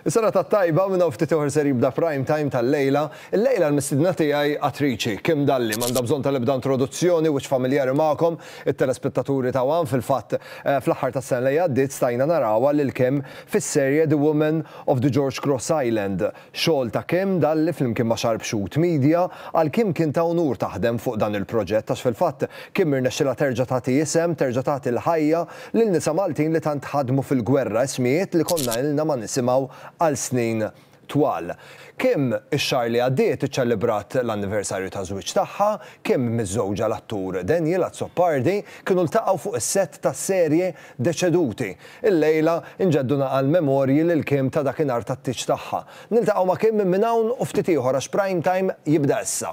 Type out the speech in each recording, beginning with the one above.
Is-sena tat-tajba, minn hawn ftit ieħor ser jibda Prime Time tal-lejla. Illejla l-mistiedna tiegħi attriċi, Kim Dalli, m'għandha bżonn ta' l-ebda introduzzjoni, wiċċ familjari magħkom, it-telespettaturi ta' one, fil-fatt fl-aħħar tas-sena li għaddiet stajna narawha lil Kim fis-serje The Woman of the George Cross Island. Xogħol ta' Kim Dalli flimkien ma' Xarbxut Media. Għal Kim kien ta' unur taħdem fuq dan il-proġett għax fil-fatt Kim irnexxilha terġa' tagħti isem, terġa' tagħti l-ħajja Lil nisa Maltin li tant ħadmu fil-gwerra, ismijiet li konna ilna ma nisimgħu għal snin twal. Kim, ix-xahar li għaddiet iċċelebrat l-anniversarju taż-żwieġ tagħha, Kim, miżżewġa l-attur Daniel Azzopardi, kienu ltaqgħu fuq is-sett tas-serje Deceduti. Illejla, inġeddu naqal memorji lil Kim ta' dakinhar tat-tieġ tagħha. Niltaqgħu ma' Kim minn hawn u ftit ieħor għax Prime Time jibda issa.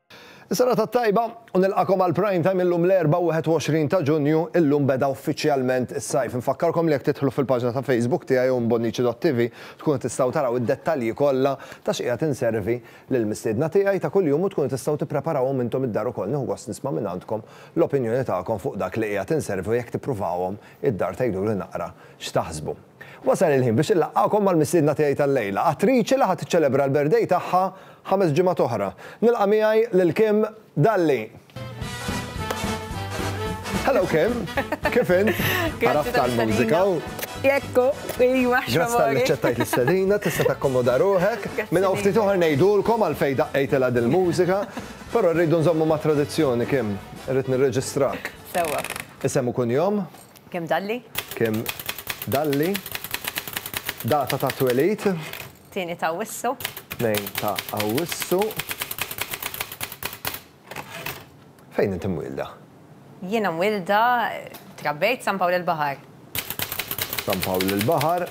Is-serata t-tajba u nilqagħkom għal Prime Time illum l-Erbgħa 21 ta' Ġunju, illum beda uffiċjalment is-sajf. Infakkarkom li jekk tidħlu fil-paġna ta' Facebook tiegħi u mbonnici.tv tkunu tistgħu taraw id-dettalji kollha ta' xi qiegħed inservi lill-mistiedna tiegħi ta' kuljum u tkunu tistgħu tippreparawhom intom id-dar ukoll. Nieħu gost nisma' mingħandkom l-opinjoni tagħkom fuq dak li qiegħed inservi u jekk tippruvawhom id-dar tgħiduli naqra x'taħsbu. Wasal il-ħin biex inlaqqagħkom mal-mistiedna tiegħi tal-lejla, attriċi li ħa tiċċelebra l-birthday tagħha ħames ġimgħat oħra. Nilqa' miegħi lil Kim Dalli. Hello Kim, kif int? Għaraft għall-mużika u. Jekk hu, ejwa ħxamori. Grazzi tal ċettajt l-istedina, tista' takkomoda ruħek. Minn hawn ftit oħra ngħidulkom għal fejn daqqejtilha dil-mużika, però rridu nżommu ma' tradizzjoni Kim, irrid nirreġistrak. Sewwa. Isem u kunjom? Kemm dalli? Kemm dalli? Data ta' twelid. Tieni ta' Awwissu. Tnejn ta' Awwissu. Fejn inti mwielda? Jiena mwielda, trabbejt San Pawl il-Baħar. San Pawl il-Baħar.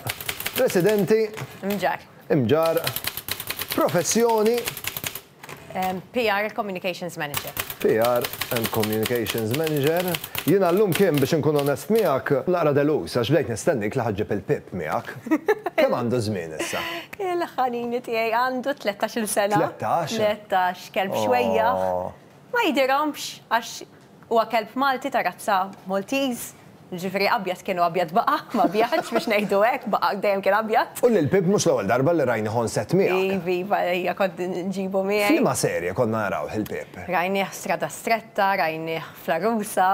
Residenti? Mġarr. Mġarr. Professjoni? PR and Communications Manager. PR and Communications Manager. Jiena llum Kim, biex inkun onest miegħek, naqra deluż għax bdejt nistennik li ħa ġġib il-Pip miegħek. Kemm għandu żmien issa? Il-ħanini tiegħi għandu tlettax-il sena. Tlettax? Tlettax, kelb xwejjaħ. Ma jidhirhomx għax Huwa kelb Malti ta' razza Maltiż, jiġifieri abjad kien u abjad baqa', ma bjadx, biex ngħidu hekk, baqa' dejjem kien abjad. U lil Pip mhux l-ewwel darba li rajnih on set miegħek. Iv, iva, ejja, kont nġibu miegħi. F'liema serje konna narawh lil Pip? Rajnieh f'Strada Stretta, rajnieh fl-Għarusa.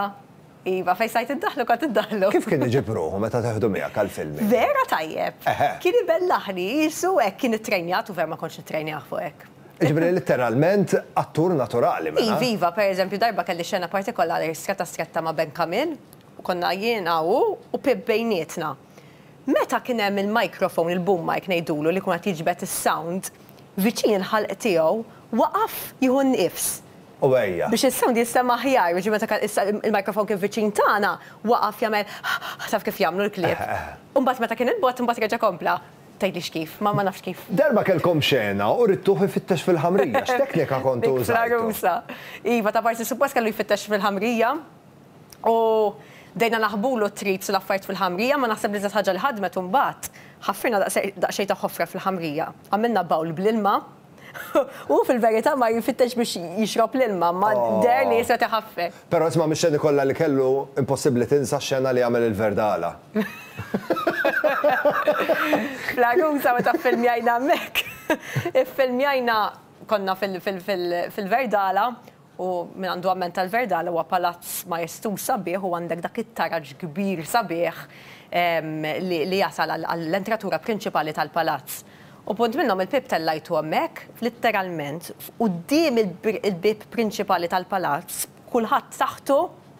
Iva, fejn stajt iddaħħlu kont iddaħħlu. Kif kien iġib ruħu meta teħdu miegħek għall-filming? Vera tajjeb! Eħe. Kien ibellaħni, qisu hekk kien ittrejnjat u vera ma kontx nittrejnjah fuq hekk. Jiġifieri litteralment attur naturali mela. Iva, iva, per eżempju darba kelli xena partikolari stretta stretta ma' Ben Camille u konna jiena hu u Pip bejnietna. Meta kien hemm il-microphone, il-boom mic ngħidulu li jkun qed jiġbed is-sound viċin il-ħalq tiegħu, waqaf jieħu n-nifs. U għejja. Biex is-sound jinstema' aħjar, jiġifieri meta kien issa il-microphone kien viċin tagħna, waqaf jagħmel taf kif jagħmlu l-klieb. Eħe, eħe. U mbagħad meta kien il-bogħod imbagħad reġa' kompla. Tgħidlix kif, ma ma nafx kif. Darba kellkom xena u ridtuh ifittex fil-ħamrija, x'teknika kontu użajtu? Fl-għarusa. Iva, ta' parsi suppost kellu jfittex fil-ħamrija u bdejna naħbulu t-trips u l-affarijiet fil-ħamrija imma naħseb l-iżjed ħaġa li ħadmet imbagħad, ħaffirna daqsxejn ta' ħofra fil-ħamrija, għamilna bawl bl-ilma, Hu fil-verità mar jfittex biex jixrob l-ilma, imma deher li qies qed iħaffef. Però isma' mix-xeni kollha li kellu, impossibbli tinsa x-xena li għamel il-Verdala. Fl-Għarusa meta ffilmjajna hemmhekk, iffilmjajna, konna fil-Verdala, U min għandu amment tal-verda' l-ewwa palazz majestuż sabiħ u għandek dak it-taraġ kbir sabiħ li jasal għall-entratura prinċipali tal-palazz. U punt minnhom il-bieb tellajtu hemmhekk litteralment f'quddiem il-bieb prinċipali tal-palazz b'kulħadd taħtu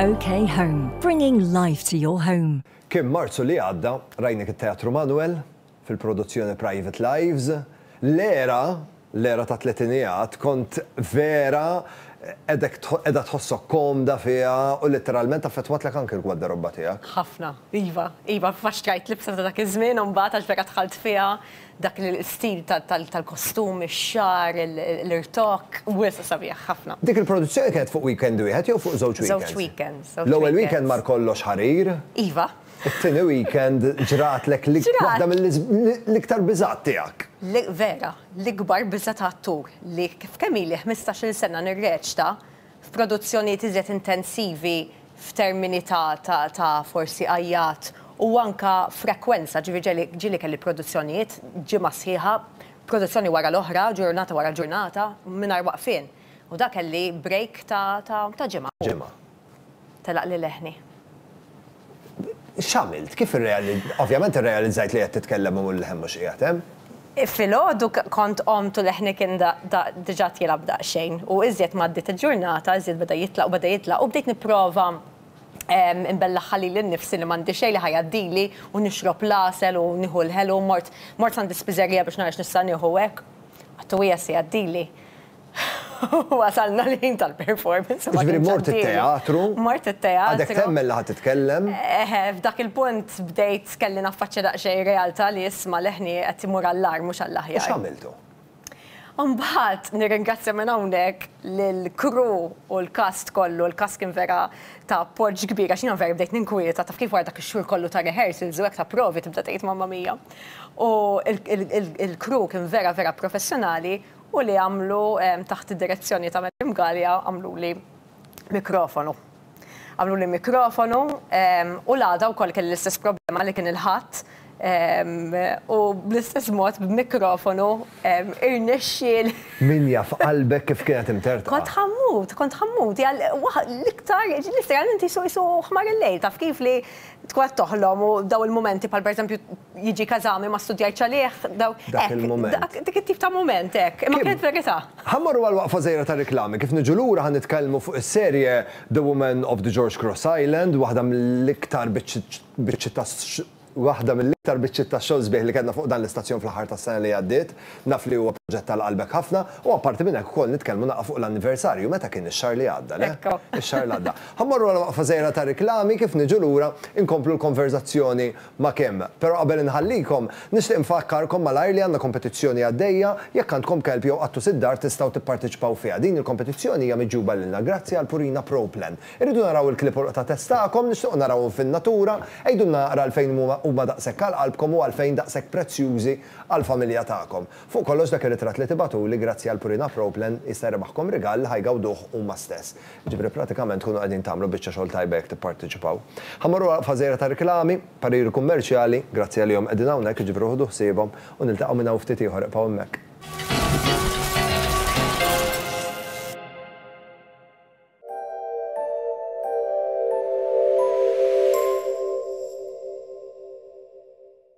OK Home, bringing life to your home. Kien Marzu li għadda, rajnek it-Teatru Manuel, fil-produzzjoni Private Lives. L-era, l-era ta' tletinijat, kont vera qiegħda tħossok komda fiha u litteralment affettwatlek anke l-gwadderobba tiegħek. Ħafna, iva, iva, faċċjajt libsa ta' dak iż-żmien u mbagħad għax vera dħalt fiha, Dak l-istil tal-kostum, ix-xagħar, l-irtokk, wisq sabiħ ħafna. Dik il-produzzjoni kienet fuq weekend wieħed jew fuq żewġ weekends? Żewġ weekends. L-ewwel weekend mar kollox ħarir. Iva. It-tieni weekend ġratlek waħda mill-iktar biżgħat tiegħek. Vera, l-ikbar biża' ta' attur li f'kemm ili ħmistax-il sena nirreċta, f'produzzjonijiet iżjed intensivi f'termini ta' ta' ta' forsi għajjat u anke frekwenza, ġifieri ġeli ġieli kelli produzzjonijiet ġimgħa sħiħa, produzzjoni wara l-oħra, ġurnata wara ġurnata, mingħajr waqfien. U da kelli break ta' ta' ta' ġimgħa. Ġimgħa. Telaq li leħni. X'għamilt? Kif irrealizzajt? Ovvjament irrealizzajt li qed titkellem u l-leħen mhux qiegħed hemm. Filgħodu kont qomt u leħni kien diġà tielgħab daqsxejn u iżjed ma għaddiet il-ġurnata iżjed beda jitla' u beda jitla' u bdejt nipprova inbellaħħa lili nnifsi li m'għandi xejn li ħa jgħaddili u nixrob l-għasel u nieħu l-ħelu. Mort mort s'għand is-spiżerija biex nara x'nista' nieħu hekk. Għattu hija se jgħaddili. Wasalna l-ħin tal-performance. Ġifieri mort it-teatru. Mort it-teatru. Għadek temmen li ħa titkellem. Eħe, f'dak il-punt bdejt kelli naffaċċja daqsxejn ir-realtà li isma' leħni qed imur għall-agħar mhux għall-aħjar. U x'għamiltu? Imbagħad nirringrazzja minn hawnhekk lill-crew u l-cast kollu, l-cast kien vera ta' appoġġ kbir għax jiena vera bdejt ninkwieta, taf kif wara dak ix-xhur kollu ta' rehearsals u hekk ta' provi tibda tgħid mamma mia. U l-crew kien vera vera professjonali u li għamlu taħt id-direzzjoni ta' Madam Galea għamluli mikrofonu. Għamluli mikrofonu u l-għada wkoll kelli l-istess problema li kien il-Ħadd u bl-istess mod b'mikrofonu irnexxieli. Min jaf qalbek kif kienet imtertqa. Kont ħammut, kont ħammut. Hija l-iktar, literalment qisu qisu ħmar il-lejl, taf kif li tkun qed toħlom u dawn il-mumenti bħal pereżempju jiġi kazami ma studjajt ċalih daw. Dak il-mument. Dik it-tip ta' mument hekk, imma kienet verità. Ħammorru għal waqfa żgħira ta' riklami, kif niġu lura ħa nitkellmu fuq is-serje The Woman of the George Cross Island, waħda mill-iktar biċċiet ta' waħda mill-iktar biċċiet ta' xogħol sbieħ li kellna fuq dan l-istazzjon fl-aħħar tas-sena li għaddiet. Naf li huwa proġett għal qalbek ħafna u apparti minn hekk ukoll nitkellmu naqgħa fuq l-anniversarju meta kien ix-xahar li għadda, le? Ix-xahar li għadda. Ħammorru għal waqfa żgħira ta' riklami, kif niġu lura inkomplu l-konverżazzjoni ma' kemm. Però qabel inħallikom, nixtieq nfakkarkom malajr li għandna kompetizzjoni għaddejja, jekk għandkom kelb jew qattus id-dar tistgħu tipparteċipaw fiha. Din il-kompetizzjoni hija miġjuba lilna grazzi għal Purina Pro Plan. Irridu naraw il-klieb u l-qta' test tagħkom, nixtiequ narawhom fin-natura. Għidulna naqra għalfejn huma huma daqshekk għal qalbkom u għalfejn daqshekk prezzjużi għall-familja tagħkom. Fuq kollox dak ir-ritratt li tibagħtuli grazzi għal Purina Pro Plan jista' jrebaħkom rigal li ħa jgawduh huma stess. Jiġifieri pratikament tkunu qegħdin tagħmlu biċċa xogħol tajba jekk tipparteċipaw. Ħa mmorru għal waqfa żgħira tar-riklami, pariri kummerċjali, grazzi għalihom qegħdin hawnhekk, jiġifieri ħudu ħsiebhom u niltaqgħu minn hawn ftit ieħor ibqgħu hemmhekk.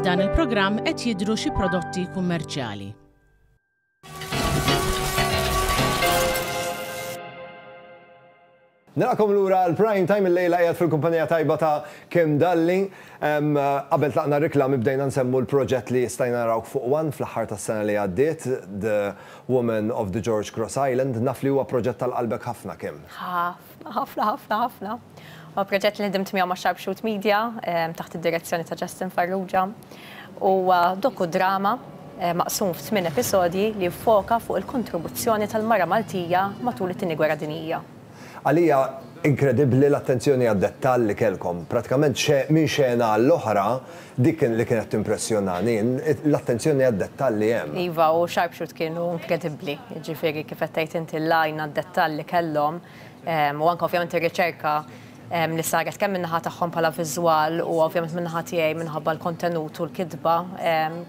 F'dan il-programm qed jidhru xi prodotti kummerċjali. Nilqakom lura l-prime time il-lejla qiegħed fil-kumpanija tajba ta' Kim Dalli. Qabel tlaqna reklami bdejna nsemmu l-proġett li stajna narawk fuq One fl-aħħar tas-sena li għaddiet, The Women of the George Cross Island, naf li huwa proġett għal qalbek ħafna, Kim. Ħafna, ħafna, ħafna, ħafna. Huwa proġett li ħdimt miegħu ma' Sharpshoot Media taħt id-direzzjoni ta' Justin Farrugia. Huwa doku-drama maqsum f'tmien episodji li jiffoka fuq il-kontribuzzjoni tal-mara Maltija matul it-Tieni Gwerra Dinjija. Għalija inkredibbli l-attenzjoni għad-dettall li kellkom. Prattikament minn xena għall-oħra, dik li kienet timpressjonani, l-attenzjoni għad-dettall li hemm. Iva, u Sharpshoot kienu inkredibbli. Jiġifieri, kif qed tgħid inti, l-għajn għad-dettall li kellhom, u anke ovvjament ir-riċerka, li saret kemm min-naħa tagħhom bħala viżwal u ovvjament min-naħa tiegħi minħabba l-kontenut u l-kitba,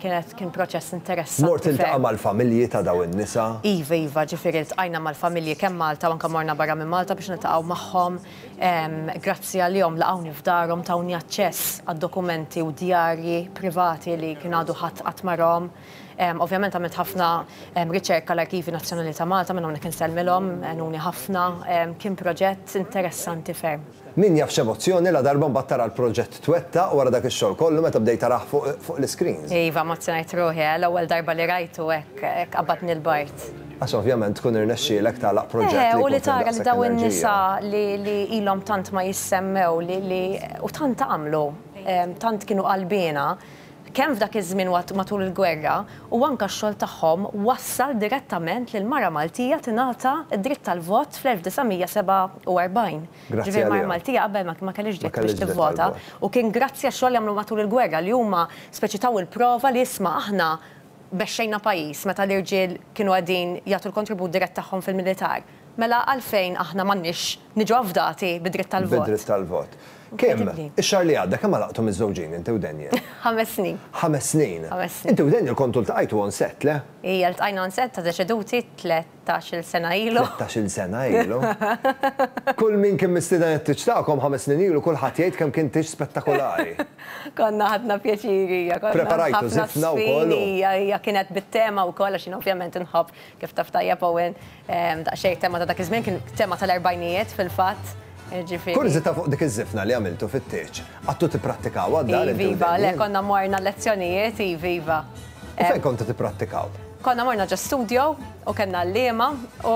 kienet kien proċess interessanti ferm. Mort tiltaqa' mal-familji ta' dawn in-nisa? Iva, iva, ġifieri ltqajna mal-familji kemm Malta u anke morna barra minn Malta biex niltaqgħu magħhom. Grazzi għalihom laqgħuni f'darhom, tawni aċċess għad-dokumenti u djarji privati li kien għadu ħadd qatt ma rahom. Ovvjament għamilt ħafna riċerka l-Arkivi Nazzjonali ta' Malta, minn hawnhekk insellmilhom, għenuni ħafna, kien proġett interessanti ferm. Min jaf x'emozzjoni ladarba mbagħad tara l-proġett twettaq wara dak ix-xogħol kollu meta bdejt tarah fuq l-iscreens. Iva, emozzjonajt ruħi, l-ewwel darba li rajtu hekk qabbadni l-bard. Għax ovvjament tkun irnexxielek tagħlaq proġett li jkun fih daqshekk enerġija. Eħe, u li tara li dawn in-nisa li ilhom tant ma jissemmew li u tant għamlu, tant kienu qalbiena, kemm f'dak iż-żmien u matul il-gwerra, u anke x-xogħol tagħhom wassal direttament li l-mara Maltija tingħata d-dritt tal-vot fl-1947. Grazzi għaliha. Ġifieri l-mara Maltija qabel ma kellhiex dritt biex tivvota u kien grazzi għax-xogħol li għamlu matul il-gwerra li huma speċi taw il-prova li isma' aħna bexxejna pajjiż meta l-irġiel kienu qegħdin jagħtu l-kontribut dirett tagħhom fil-militar. Mela għalfejn aħna m'għandniex niġu afdati bi dritt tal-vot? Bi dritt tal-vot. Kim, ix-xahar li għadda kemm għalaqtu miżżewġin inti u Daniel? Ħames snin. Ħames snin. Ħames snin. Inti u Daniel kontu ltqajtu on set, le? Ija, ltqajna on set ta' Deċeduti tlettax-il sena ilu. Tlettax-il sena ilu. Kull min kien mistieden għat-tieġ tagħkom ħames snin ilu kulħadd jgħid kemm kien tieġ spettakolari. Konna ħadna pjaċir, ija, konna. Preparajtu żifna wkoll. Ija, ija, kienet bit-tema wkoll għax jien ovvjament inħobb, kif taf tajjeb Owen, Daqsxejn it-tema ta' dak iż-żmien kien tema tal-erbgħinijiet fil-fatt. Jiġifieri. Kurżità fuq dik iż-żifna li għamiltu fit-tieġ. Għadtu tipprattikawha d-dar? Iva, iva, le konna morna l-lezzjonijiet, iva, iva. U fejn kontu tipprattikaw? Konna morna ġo studio u kellna għalliema u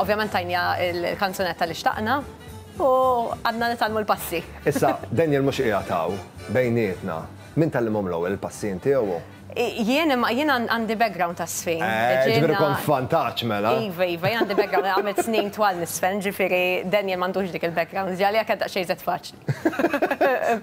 ovvjament tajniha l-kanzunetta li xtaqna u qgħadna nitgħallmu l-passi. Issa, Daniel mhux qiegħed hawn bejnietna. Min tgħallimhom l-ewwel il-passi inti jew hu? Jien imma jien għandi background ta' żfin. Eh, ġifieri kont f'vantaġġ mela. Iva, iva, jien għandi background għamilt snin twal niżfen, ġifieri Daniel m'għandux dik il-background, ġieli għalija kien daqsxejn iżjed faċli.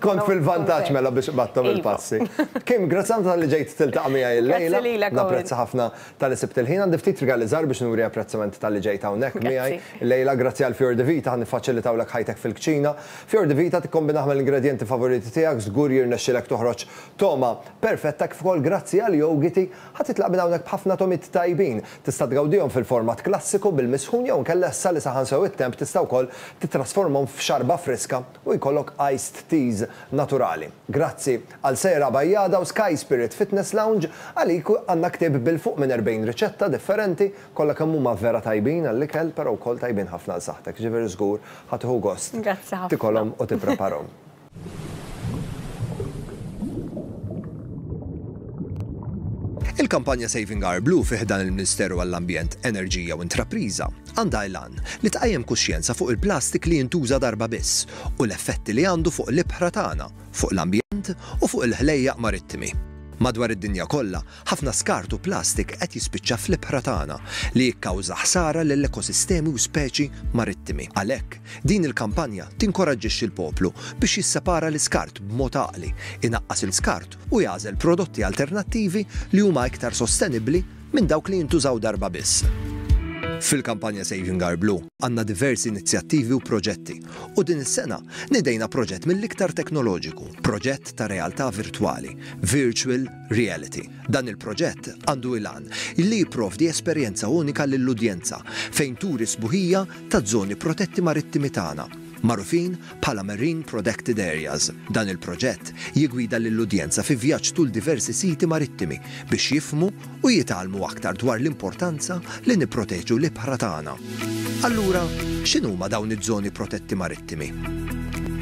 Kont fil-vantaġġ mela biex qbadthom il-passi. Kim, grazzi ħafna talli ġejt tiltaqa' miegħi l-lejla. Grazzi lilek ukoll. Napprezza ħafna talli sibt il-ħin. Għandi ftit rigali żgħar biex nuri apprezzament talli ġejt hawnhekk miegħi l-lejla. Grazzi għal Fior di Vita ħa niffaċilitawlek ħajtek fil-kċina. Fior di Vita tikkombinah mal-ingredjenti favoriti tiegħek, żgur jirnexxilek toħroġ togħma Perfetta kif ukoll grazzi għal Yogiti ħa titlaq minn hawnhekk b'ħafna tomit tajbin. Tista' tgawdihom fil-format klassiku bil-misħun jew inkella issa li saħan sew it-temp tista' wkoll tittrasformhom f'xarba friska u jkollok iced teas naturali. Grazzi għal Sejra Bajjada u Sky Spirit Fitness Lounge, għalik għandna ktieb bil-fuq minn 40 riċetta differenti, kollha kemm huma vera tajbin għall-ikel però wkoll tajbin ħafna għal saħħtek, jiġifieri żgur ħa tieħu gost tikolhom u tippreparhom. Il-kampanja Saving Our Blue fi ħdan il-Ministeru għall-Ambjent, Enerġija u Intrapriża għandha l-għan li tqajjem kuxjenza fuq il-plastik li jintuża darba biss u l-effetti li għandu fuq l-ibħra tagħna, fuq l-ambjent u fuq il-ħlejjaq marittimi. Madwar id-dinja kollha, Ħafna skart u plastik qed jispiċċa fl-ibħra tagħna, li jikkawża ħsara lill-ekosistemi u speċi marittimi. Għalhekk, din il-kampanja tinkoraġġixxi l-poplu biex jissepara l-iskart b'mod għaqli, inaqqas il-skart u jagħżel prodotti alternattivi li huma iktar sostenibbli minn dawk li jintużaw darba biss. Fil-kampanja Saving Our Blue għandna diversi inizjattivi u proġetti u din is-sena nidejna proġett mill-iktar teknoloġiku, proġett ta' realtà virtwali, Virtual Reality. Dan il-proġett għandu il-għan li jipprovdi esperjenza unika lill-udjenza fejn turi s-sbuħija taż-żoni protetti marittimi tagħna, magħrufin bħala Marine Prodected Areas. Dan il-proġett jiggwida lill-udjenza fi vjaġġ tul diversi siti marittimi biex jifhmu u jitgħallmu aktar dwar l-importanza li nipproteġu l-ibħra tagħna. Allura, x'inhuma dawn iż-żoni protetti marittimi?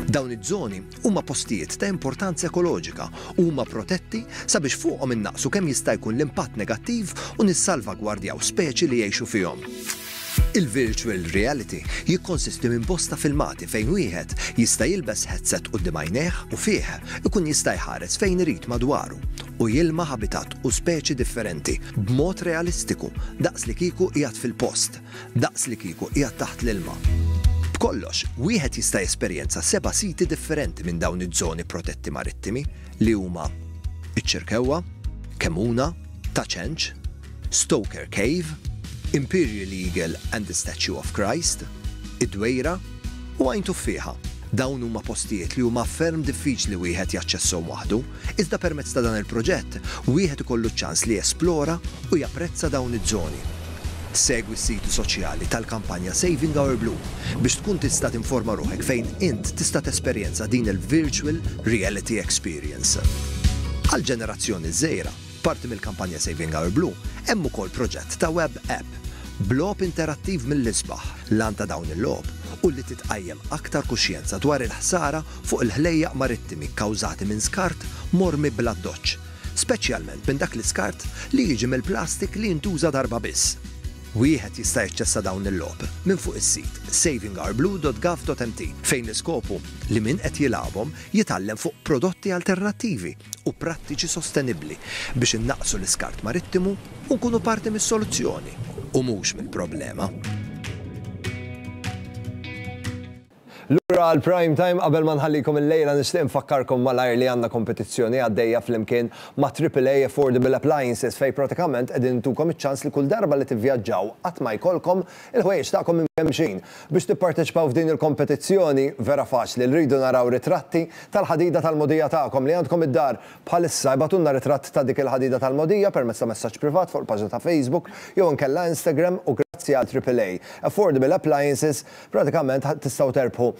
Dawn iż-żoni Huma postijiet ta' importanza ekoloġika u huma protetti sabiex fuqhom innaqqsu kemm jista' jkun l-impatt negattiv u nissalvagwardjaw speċi li jgħixu fihom. Il-virtual reality jikkonsisti minn bosta filmati fejn wieħed jista' jilbes headset quddiem għajnejh u fih ikun jista' jħares fejn irid madwaru u jilma' ħabitat u speċi differenti b'mod realistiku daqs li kieku qiegħed fil-post. daqslikieku qiegħed taħt l-ilma. B'kollox, wieħed jista' jesperjenza seba' siti differenti minn dawn iż-żoni protetti marittimi li huma iċ-Ċirkewwa, Kemmuna, Ta' Ċenċ, Stoker Cave, Imperial Eagle and the Statue of Christ, id-Dwejra u Għajn Tuffieħa. Dawn huma postijiet li huma ferm diffiċli wieħed jaċċesshom waħdu, Iżda permezz ta' dan il-proġett, wieħed ikollu ċ-ċans li jesplora u japprezza dawn iż-żoni. Segwi s-siti soċjali tal-kampanja Saving Our Blue biex tkun tista' tinforma ruħek fejn int tista' tesperjenza din il-virtual reality experience. Għall-ġenerazzjoni żgħira, Parti mill-kampanja Saving Our Blue hemm ukoll proġett ta' web app b'logħob interattiv mill-isbaħ. L-għan ta' dawn il-logħob hu li titqajjem aktar kuxjenza dwar il-ħsara fuq il-ħlejjaq marittimi kkawżati minn skart mormi bl-addoċċ, speċjalment minn dak l-iskart li jiġi mill-plastik li jintuża darba biss. Wieħed jista' jaċċessa dawn il-logħob minn fuq is-sit savingourblue.gov.mt fejn l-iskop hu li min qed jilgħabhom jitgħallem fuq prodotti alternattivi. u prattiċi sostenibbli biex innaqqsu l-iskart marittimu u nkunu parti mis-soluzzjoni u mhux mill-problema. Lura għal Prime Time qabel ma nħallikom illejla nixtieq infakkarkom malajr li għandna kompetizzjoni għaddejja flimkien ma' AAA Affordable Appliances fejn pratikament qegħdin intukom iċ-ċans li kull darba li tivvjaġġaw qatt ma jkollkom Il-ħwejjeġ tagħkom imkemmxin. Biex tipparteċipaw f'din il-kompetizzjoni, vera faċli, rridu naraw ritratti tal-ħadida tal-mogħdija tagħkom li għandkom id-dar bħalissa. Ibgħatulna ritratt ta' dik il-ħadida tal-mogħdija permezz ta' messaġġ privat fuq il-paġna ta' Facebook jew inkella Instagram u grazzi għal Triple A Affordable Appliances pratikament tistgħu terbħu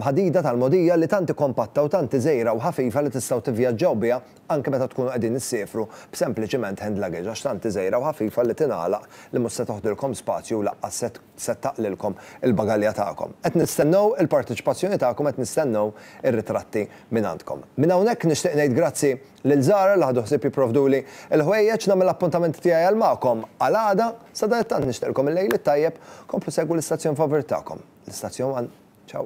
ħadida tal-mogħdija li tant kompatta u tant iżgħira u ħafifa li tistgħu tivvjaġġaw biha anke meta tkunu qegħdin issiefru b'sempliċiment hand luggage għax tant hi żgħira u ħafifa li tingħalaq li mhux se toħdilkom spazju u laqqas se taqlilkom il-bagalja tagħkom. Qed nistennew il-parteċipazzjoni tagħkom qed nistennew ir-ritratti mingħandkom. Minn hawnhekk nixtieq ngħid grazzi lil Zara li ħadu ħsieb jipprovduli l-ħwejjeġ, nagħmel l-appuntamenti tiegħi għal magħkom għal għada, sadanittant nixtieqlkom il-lejl it-tajjeb, komplu segwu l-istazzjon favurit tagħkom, l-Istazzjon One. Ciao.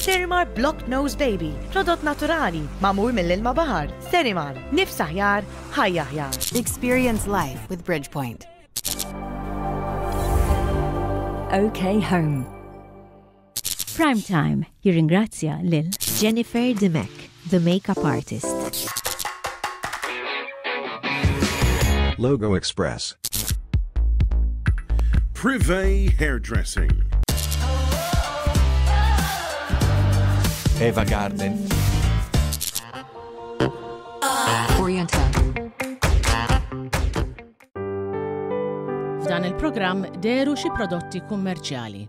Sterimar Block Nose Baby, prodott naturali, magħmul mill-ilma baħar. Sterimar, nifs aħjar, ħajja aħjar. Experience life with Bridgepoint. OK Home. Prime Time jirringrazzja lil Jennifer Dimek. The Makeup Artist. Logo Express. Privé Hairdressing. Eva Garden. Oriental. F'dan il-programm deru xi prodotti kummerċjali.